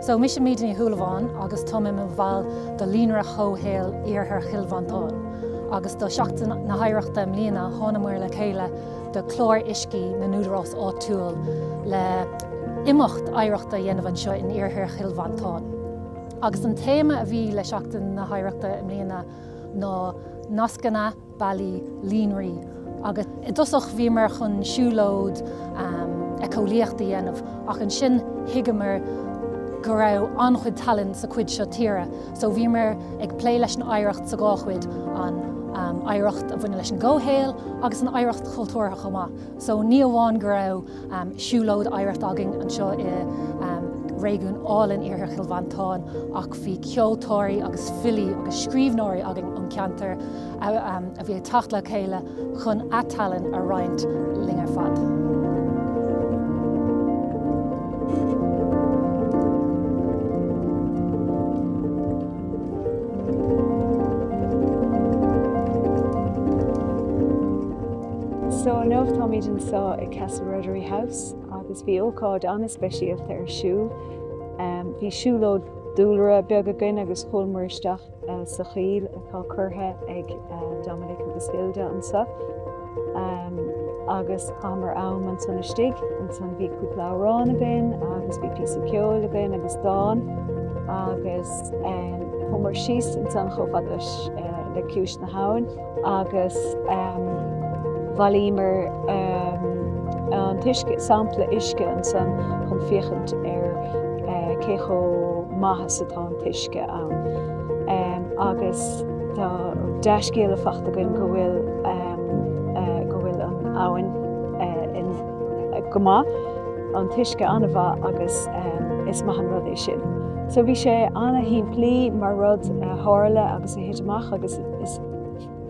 So, mise Míde Ní Shúilleabháin agus táim i mo bhall do Líonra Chomhshaoil Iarthar Chill Mhantáin agus do Seachtain na hOidhreachta i mbliana thánamar le chéile le Clár Uiscí na nÚdarás Áitiúil le imeacht oidhreachta a dhéanamh anseo in Iarthar Chill Mhantáin agus an téama a bhí le Seachtain na hOidhreachta i mbliana ná Nascanna Bealaí Líonraí agus i dtosach bhíomar chun siúlóid eiceolaíochta a dhéanamh ach ansin thuigeamar go raibh an-chuid tallann sa chuid seo tíre so bhíomar ag plé leis an oidhreacht sa dhá chuid, an oidhreacht a bhaineann leis an gcomhshaol agus an oidhreacht chultúrtha chomh maith so ní amháin go raibh Siúlóid oidhreachta againn anseo i réigiún álainn Iarthar Chill Mhantáin ach bhí ceoltóirí agus filí agus scríbhneoirí againn ón gceantar a bhí ag teacht le chéile chun a dtallann a roinnt linn ar fad. So inniu táimid anseo i Castle Ruddery House agus bhí ócáid an-speisialta ar siúl. Bhí siúlóid dúlra beag againn agus chuaigh muir isteach sa choill atá curtha ag Dominic agus Hilda anseo agus chaitheamar am ansan istigh. Ansan bhí cúpla amhrán againn agus bhí píosa ceoil againn agus dán agus chuamar síos ansan chomh fada le ciumhais na habhann. agus bhailíomar an t-uisce, sampla uisce ansan chun féachaint ar cé chomh maith is atá an t-uisce ann. Agus tá dea-scéala fachta againn go bhfuil go bhfuil an abhainn go maith, an t-uisce an-mhaith agus is maith an rud é sin. So bhí sé an-shimplí mar rud a tharla agus a thit amach agus Is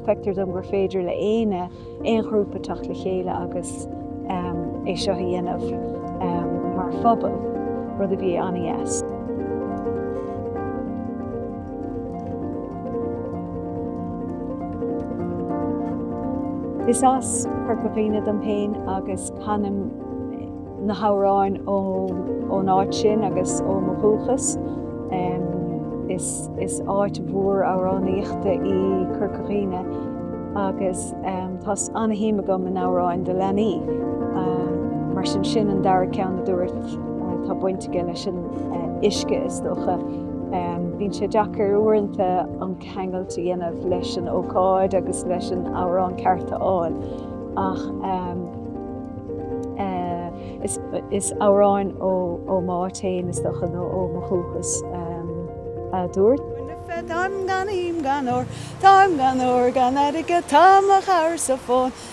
feictear dom gur féidir le éinne, aon ghrúpa teacht le chéile agus é seo a dhéanamh mar phobal, rud a bhí an-dheas. Is as Corca Dhuibhne dom féin agus canaim na hamhráin ón áit sin agus ó mo dhúchas. Is áit mhór amhránaíochta í Corca Dhuibhne agus tá an-shuim agam in amhráin do leanaí. Mar sin sin an dara ceann a dúirt tá baint aige leis an uisce is dócha. Bíonn sé deacair uaireanta an ceangal a dhéanamh leis an ócáid agus leis an amhrán ceart a fháil ach is amhráin ó m'áit fhéin, is dócha, nó ó mo dhúchas, a dúirt. Táim gan im gan ór, táim gan ór gan airgead, tá mo chabhair sa bhFómhar.